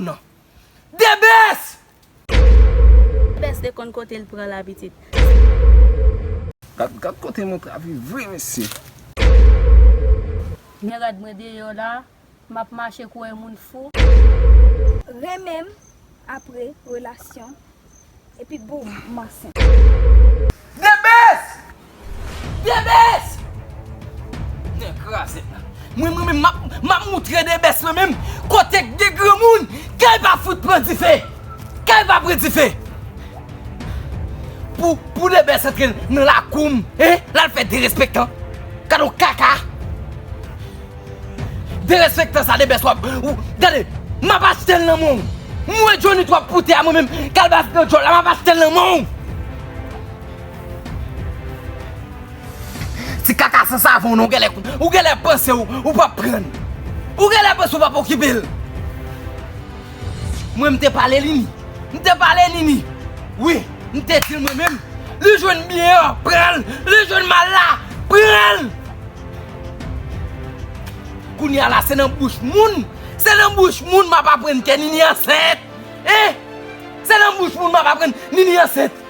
nan. The best! The best te konn kotel pran la pitit. Gad kote mwen travy vre mesye. Men rad mwen deyo la. Map mache kouwè moun fou. Renmenm apre relasyon. Epi boom m ansent. The best! The best! Nè krazèt la. Mwen mwen menm map moutre the best mwen menm kote k gen granmoun kay pa fout pran dife. Kay pa pran dife. Pou pou the best antre nan lakoum. Hein lal fè derespektan. Gadon kaka. Derespektan sa debès wap Gade Map achtel nan menw M wè Johnny trop pou tè a mwen menm Kalbas nan djòl la map achtel nan menw Ti kaka san savon non ou genlè panse ou pap prann Ou genlè panse ou pap okipel. Mwen m te pale li ni. M te pale li ni. Wi, m te di l mwen menm. Li jwenn byen an, pran l. Li jwenn mal la, pran l. Kounye a la, se nan bouch moun, se nan bouch moun m ap aprann ke Nini ansent. Hein? Se nan bouch moun m ap aprann Nini ansent.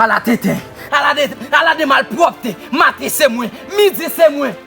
Ala tenten, ala de malpwòpte. Maten se mwen, midi se mwen.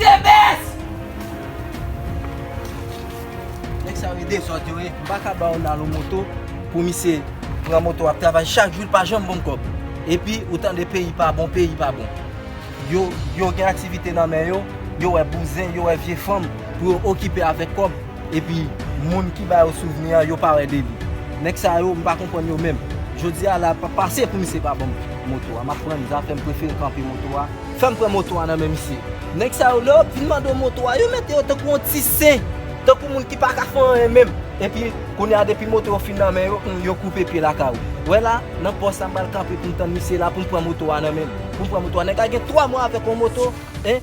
Tebes! Nèg sa yo e dezòd yo ye. M pa ka ba yon lalou moto pou misye pran moto ap travay chak jou li pa janm ban m kòb. Epi ou tande peyi pa bon, peyi pa bon. Yo gen aktivite nan men yo, yo wè bouzen, yo wè vye fanm pou yo okipe avèk kòb. Epi moun ki ba yo souvni an yo pa wè de li. Nèg sa yo m pa konprann yo menm. Jodi a la pa pase pou misye pa ban m moto a. M ap pran zafè m prefere kanpe moto a. Fè m pran moto a nan men misye. Nèg sa yo lè yo vin mande w moto a yo mete yo tankou yon ti sen. Tankou moun ki pa ka fè anyen menm. Epi kounye a depi moto yo fin nan men yo yo koupe pye lakay ou. Wè la nan pòs la m pral kanpe pou m tann misye la pou m pran moto a nan men l. Pou m pran moto a. Nèg la gen 3 mwa avèk yon moto. Hein.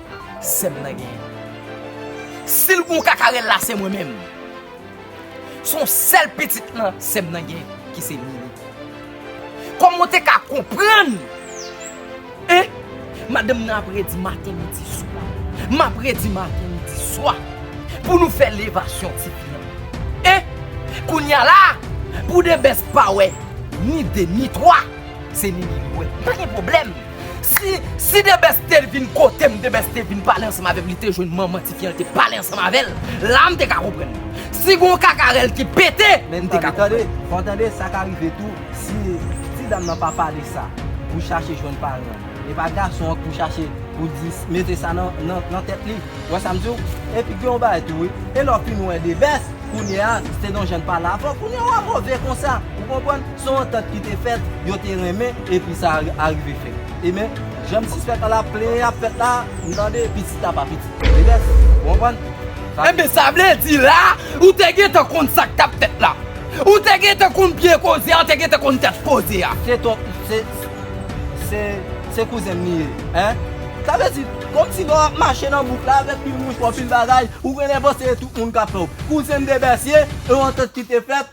Sèm nan gen. Sil gon kakarel la se mwen menm. Son sèl pitit nan sèm nan gen ki se Mimi. Koman w te ka konprann hein madanm nan ap redi maten midi swa map redi maten midi swa pou nou fè levasyon ti fi an hein kounya la pou Debès pa wè ni 2 ni 3 se Mimi li wè pa gen problème. Si, si Debès te vin kote m, Debès te vin pale ansanm avè m, li te jwenn manman tifi an, li te pale ansanm avè l, la m te ka konprann. Si gen yon kaka rèl ki pete, m te ka konprann. Men tande, tande, tande, sa ka rive tou, si, si dam nan pa pale sa pou chache jwenn paran l, e pa gason an k pou chache pou di, mete sa nan, nan, nan tèt li. Ou wè sa m di w? Epi gen yon bagay tou wi, e lè w fin wè Debès, kounye a, Stedonjean pa la avan, kounye a w a move konsa. Ou konprann? Se yon antant ki te fèt, yo te renmen, epi sa arive fèt. Emen, jan m sispèk la la, plenyen ap fèt la, nou tande, pitit la pa pitit Medès. Ou konprann? Enben, sa vle di la, ou te gentan konn sa k t ap fèt la. Ou te gentan konn pye koze a, ou te gentan konn tèt koze a. Se ton, se, se, se kouzen m li ye. Hein? Sa vle di, kòmsi lè w ap mache nan bouk la avèk pil mouchwa, pil bagay, ou genlè panse se tout moun k ap fè w. Kouzen m Medès ye, se yon antant ki te fèt,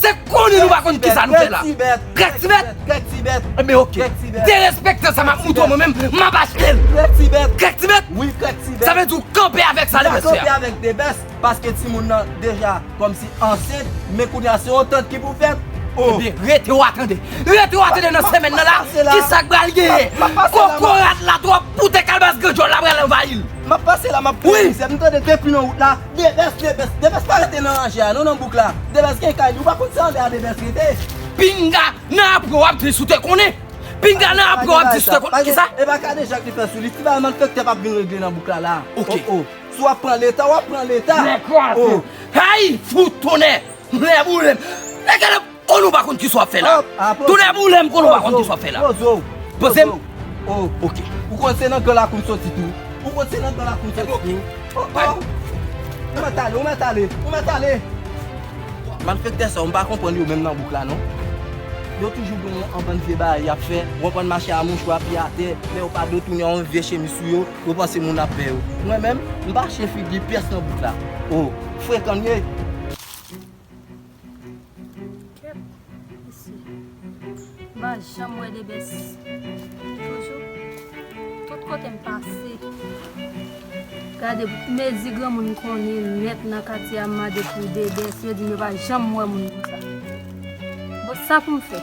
Se konnen nou pa konnen kisa nou fè la. Grèk ti bèt. Grèk ti bèt. E ben ok. Derespektan sa map mouton mwen menm map achtel. Grèk ti bèt. Grèk ti bèt. Wi grèk ti bèt. Sa vle di ou kanpe avèk sa Debès fè a. Mwen kanpe avèk Debès paske timoun nan deja kòmsi ansent men kounye a se yon tant ki pou fèt. E ben rete wa tande. Rete wa tande nan semèn nan la kisa k pral genyen. Kokorat la twòp pou tè kalbas gran djòl la pral anvayil. Map pase la map pran mizè nou tande depi nan wout la. Debès debès debès pa rete nan ranje a non nan bouk la debès gen kay li ou pa konn se anlè a debès rete. Pinga nan apre wap vin sou te konnen pinga nan apre wap vin sou te konnen kisa. Epa kadejak li fè sou li ti bagay malfektè pap vin regle nan bouk la la oh oh si wap pran leta wap pran leta oh. Nèg kraze hay fout tonnè nèg boulem. Kon ou pa konn kisa wap fè la. Tou lè mou lèm kon ou pa konn kisa wap fè la. Poze ou. Poze ou. Ok. Ou konn se nan gòl la koum soti tou. Ou konn se nan gòl la koum soti tou. Epo ok. Oh oh. Ou mèt ale, ou mèt ale. Ou mèt ale. Malfektè sa ou mpa konprann yo menm nan bouk la non. Yo toujou gen yon anbann vye bagay yap fè. Ou anbann mache a mouchwa piye atè. Lè yo pa do tounen yon vye chemiz sou yo. Yo panse moun ap vè yo. Mwen menm, mpa chyen figi pyès nan bouk la. Oh. Frekan nu ye. Kep isi. M pa janm wè debès. Toujou. Tout kote m pase. Gade mezi granmoun konnen nèt nan katye a m made pou debès yo di m yo pa janm wè moun konsa. Bon sa pou m fè.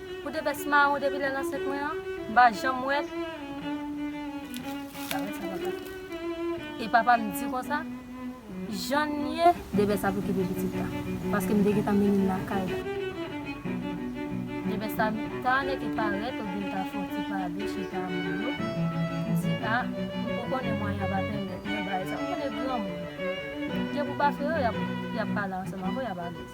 Pou de vès maron depi lèl ansent mwen an m pa janm wè e papam di konsa jann ye. De vès ap okipe pitit la paske m te gentan mennen l lakay la. De vès sa ta nèke parèt oubyen ta fè yon ti pale chita a moun yo di a m ko konnen mwayen an pa pèmèt mwen bay sa ou konnen granmoun gen pou pa fè yo yap pale ansanm avèw yap alèz.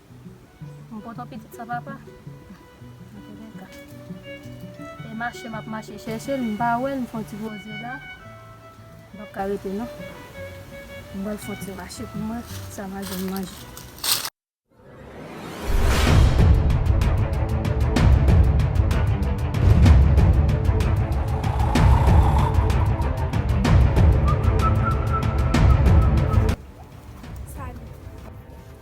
M kontan pitit sa papa. Nan tou le ka. E mache m ap mache chèche l m pa wè l m fon ti poze la. M pap ka rete non. M pral fon ti mache pou m wè sa m a jwenn manje.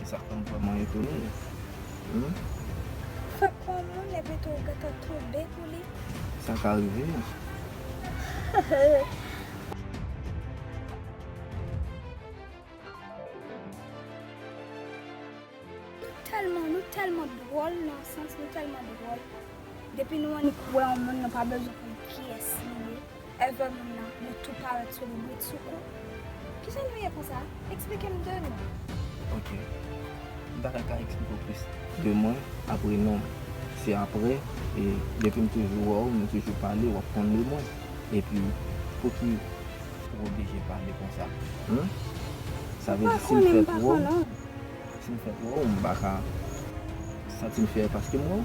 E sa fèm vrèman etone Humm. Fè kò moun epi tou ou gentan tonbe pou li. Sa ka rive Humm. Nou tèlman nou tèlman dwòl nan yon sans nou tèlman dwòl depi nou annik wè yon moun nou pa bezwen konn kiyès li ye. Ever moun nan yo tou parèt sou li brit sou kou Kijan nou ye konsa eksplike m de nou. Ok m ta ka ka eksplike w plis de mwen apre non se apre e depi m toujou wè w nou toujou pale wap konn de mwen epi pouki ou oblije pale konsa humm sa vle di si m fèk wè w si m fèk wè w m pa ka santi m fyè paske m wè w.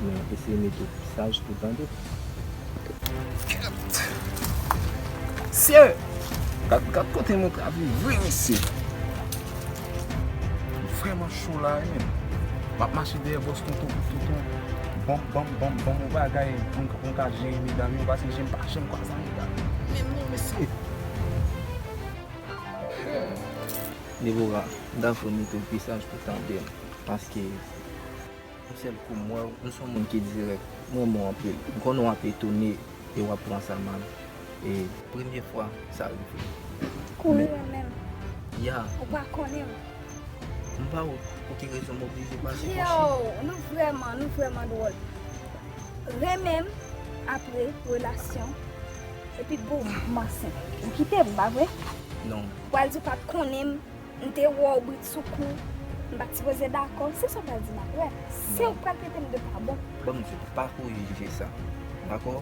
Men eseye mete pi saj tou tande. Kat! Mesye! Kat kat kote nou ka viv vre mesye! M vreman cho la wi menn. M ap mache dèyè bòs tonton pou tonton banm banm banm banm yon bagay poun poun ka jere medam yo paske jem pa janm kwaza medam yo menm non mesye! Deborah, m ta vle mete w pi saj pou tande paske. Yon sèl kou m wèw, nou son moun ki dirèk, m renmen w anpil. M konnen w ap etone e w ap pran sa mal e. Premye fwa sa rive m. Kouri renmen m. Ya. Ou pa konnen m. M pa wè pou ki rezon m oblije pase konchi. Yow! Nou vrèman, nou vrèman dwòl. Renmen m apre relasyon epi boum m ansent. Ou kite m, pa vre? Non. Ou pral di w pa t konnen m. M te wè w britsoukou, m pa t sipoze dakò. Si sa w pral di m ap wè. Si w pral trete m de pa bon. Ban m di w, pa kouri jije sa. Dakò?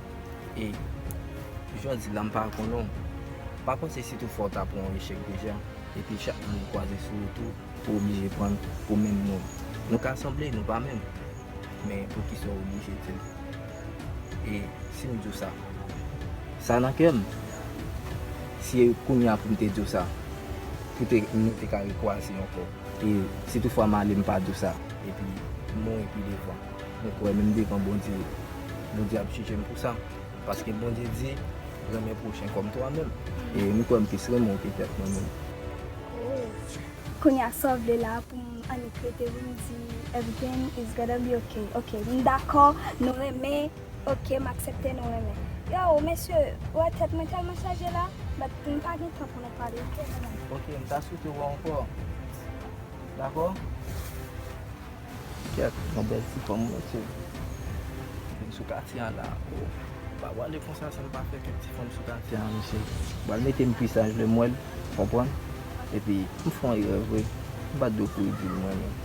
E, jan w di la m pa konnen w. Pa panse si toufwa w ta pran yon echèk deja, epi chak moun ki kwaze sou wout ou, ou oblije pran l pou menm moun. Nou ka sanble, nou pa menm. Men poukisa w oblije di l? E, si m di w sa? Sa nan kè m. Si e kounya poum te diw sa Pou te nou te ka rekwase ankò E si tout fwa male mpa diw sa Epi mouri pi devan Mwen kwè menm devan Bondye Bondye ap jijem pou sa Paske Bondye di Renmen pwochen kòm twa menm E m kwè m plis renmenw ke tèt mwen menm Ooh Kounya sa w vle la poum annik rete wi m di Everything is gonna be ok Ok m dakò nou renmen. Ok m aksepte nou renmen. Yow mesye ou wè tèt mwen tèlman chaje la but m pa gen tan pou nou pale ok mezanmi. Ok m ta swete wè w ankò dakò. Kèt yon bèl ti fanm wi mesye. Vin sou katye an la oh. M pa pwale konsa san m pa fè kèk ti fanm sou katye an mesye. M pral mete m pi saj lè m wè l ou konprann epi m fè yon erè vre m pa t dwe kouri di l m renmen l.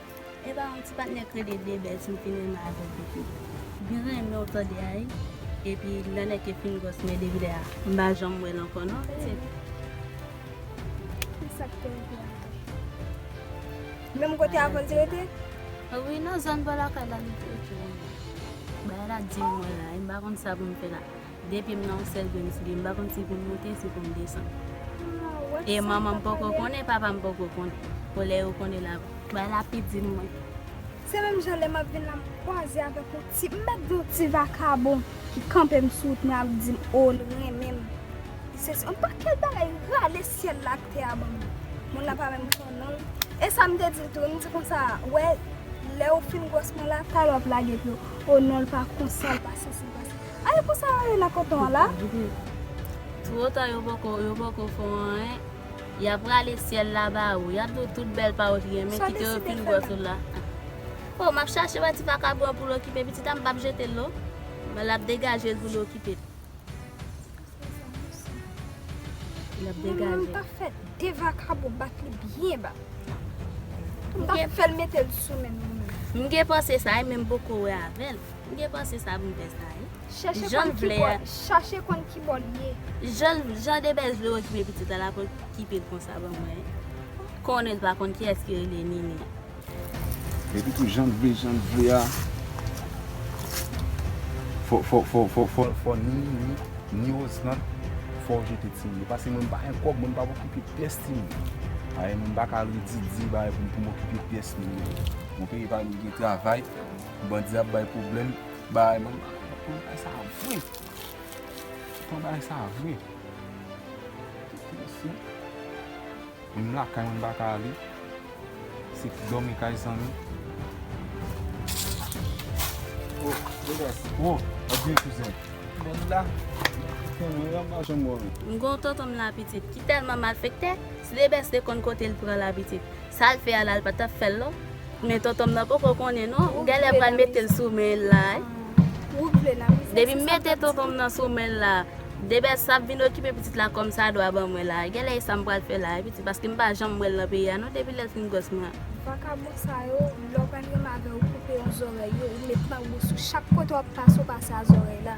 Epa yon ti patnè kredi de bèz m fin renmen avèl depi m fin renmenw tande ayy epi lè nèg yo fin gròs men depi lè a m pa janm wèl ankò non se. Esak fè m vle avèl. Menm kote avèl te rete? Wi nan zòn bò lakay la li te rete wi. Bagay la dim mwen la e m pa konn sa pou m fè la. Depi m nan yon sèl grenn souliye m pa konn si pou m moute si pou m desann. E manman m poko konnen e papa m poko konnen. Pou lè yo konnen l ap bay lapidin mwen. Se menm jan lè m ap vin la m kwaze avèk yon ti, m mèt di yon ti vakabon ki kanpe m sou wout mwen ap di m o l renmen m. Li se yon pakèt bagay li rale syèl la ak tè a ban mwen. Moun la pa menm konnen non l. E sa m te di l tou, m di konsa a, wè lè ou fin gwòs mwen la, talè w ap lage pye w. O non l pa konsa, l pa sansib konsa. Ah e konsa yo rele koton an la. Two ta yo poko yo poko fè anyen yap rale syèl la ba ou yap diw tout bèl pa ou t renmen kite yo pil gwòs ou la oh map chache wè ti vakabon an poul okipe pitit a mpap jetel non men lap degajel poul okipe l. Mwen ta fè de vakabo bat li byen ba. Mwen ta fè l mete l sou menm mwen. Mwen gen panse sa e menm poko wè avèl. Mwen gen panse sa mwen fè sa e. Chache konn ki bò li ye. Jan de bèz vle okipe pitit la la pou l kipe l konsa ban mwen. Konnen l pa konn kiyès ki rele Nini. Epi tou janl vle janl vle a fò ni li ni Osrand fò jete timoun yo pase mwen m pa gen kòb mwen m pap okipe pyès timoun ayè mwen m pa ka al redi di bagay pou m pou m okipe pyès moun yo mwen peye pa mwen gen travay bandi ap bay pwoblèm bagay mwen m pa gen kòb bagay sa vre m pran bagay sa vre. Moun lakay mwen pa ka ale. Se pou dòmi kay zanmi. Oh, Degas. Oh, adye kouzen. Bon nou la? Kouzen mwen an pa janm wè w. M gen yon tonton m la pitit ki tèlman malfektè, si Debès te konn kote l pran la pitit, sa l fè a la l pa t ap fè l non. Men tontonm nan poko konnen non. Ou genlè pral metel sou menl la wi. Depim mete tontonm nan sou menl la. Debès ap vin okipe pitit la kòm sa dwa ban mwen la. Genlè e sam pral fè la wi pitit paske mpa janm wèl nan peyi a non depi lèl fin gwòs mwen. Vakabon sa yo lè w pa gen menm avè w koupe yon zòrèy yo ou met mango sou chak kote wap pase w pase a zòrèy la.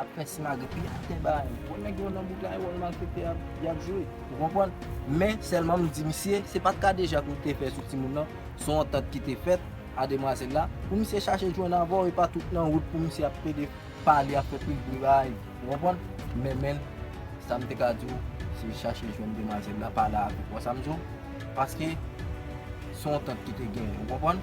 ap fè simagrèt pi ap fè bagay yo. Bon nèg yo nan bouk la e wòl malfèktè y ap jwe. Ou konprann? Men sèlman m di misye, se pa t ka deja pou l te fè sou timoun nan, s on antant ki te fèt a demwazèl la, pou misye chache jwenn avè w e pa tout nan wout pou misye ap plede pale ap fè pil bri bagay yo. Ou konprann? Men men sa m te ka di w, se chache jwenn demwazèl la, pale avè l. Ou konprann sa m di w? Paske s on antant ki te genyen. Ou konprann?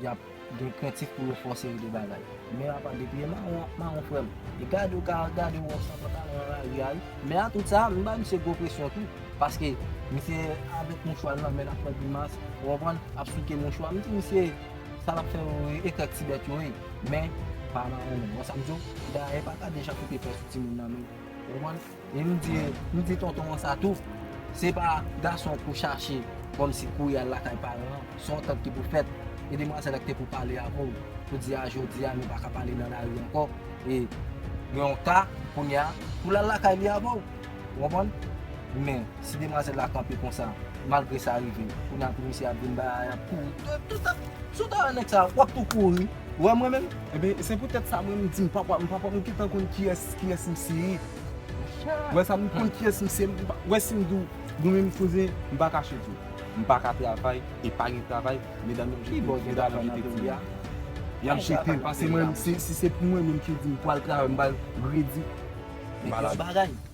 Y ap gen krentif pou yo fòse yo de bagay. Men apa depi e mawon ap mawon frè m. E gade yo ka gade ou san pantalon nan lari a wi. Men a tout sa, m bay misye gwo presyon tou. Paske misye avèk mouchwa l nan men l ap fè grimas, ou konprann, ap souke mouchwa. M di misye sa l ap fè yo e krèk ti bèt yo e. Men pa mawon menm. Ou wè sa m di w? Dayè e pa gade jan koute fè sou timoun nan menm. Ou konprann? E m di m di tonton an sa tou, se pa gason pou chache kòmsi kouri al lakay paran an, se yon tant ki pou fèt, e demwazèl la ki te pou pale avè w pou di a jodi a nou pa ka pale nan lari ankò, e gen yon ka kounye a pou l al lakay li avè w. Ou konprann? Men, si demwazèl la kanpe konsa, malgre sa rive, kounye a pou misye ap vin bay a y ap kouri, tout sa, si w ta wè nèg sa a, w ap tou kouri, ou wè m mwen menm? Ebyen se pou tèt sa mwen m di m pap m pap m gentan konn kiyès kiyès m se ye ou wè sa m konn kiyès m se ou wè si m di w goumen m koze m pa kache di w m pa ka travay e pa gen travay medam yo jete m medam yo jete ti a y ap jete m pase mwen si se pou mwen menm ki di m pral travay m pral redi m pa la.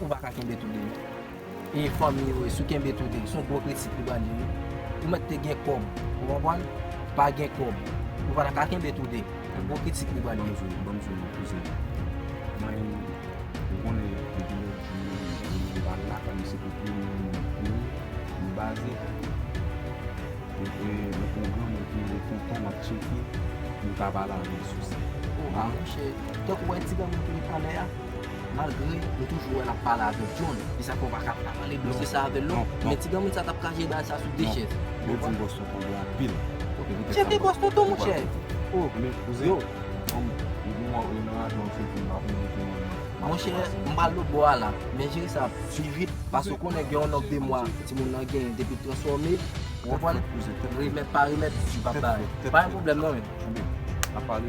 Ou pa ka kenbe toude non. E fanmi yo e si w kenbe toude son gwo kritik li pral di wi. Ou mèt te gen kòb ou konprann? Pa gen kòb ou pa ta ka kenbe toude. Se gwo kritik li pral di. Ban m sou non kouzen an. Mwen menm ou konnen depi lòt jou m pa lakay m se pou plim pou ou m baze. Mwen te nan pwogram epi mwen kontan m ap tcheke m ka pale avè w sou sa. Ou a mouche. Tank ou wè ti granmoun ki met anlè a. Malgre nou toujou wè lap pale avèk John, e sa fè ou pa ka pa pale dosye sa avèl non, men ti granmoun sa tap ka jere bagay sa sou de chèz. Building Boston pi bon anpil. Chète Boston tou mon chè. Oh yo. Mon chè m pral lòt bò a la, men jere sa pi vit paske ou konnen gen yon nonb de mwa timoun nan genyen depi l transfòme, ou konprann, remèt pa remèt li pap bay. Pa gen pwoblèm non men. Nap pale.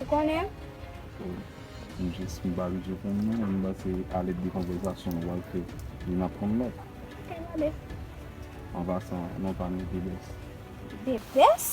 Ou konnen l? M jis m pa abitye konn non, m panse a lèt de konvèzasyon nou pral fè nou n ap konn lòt. Kay la bès. An pasan, non pa m yo te bès. Te bès?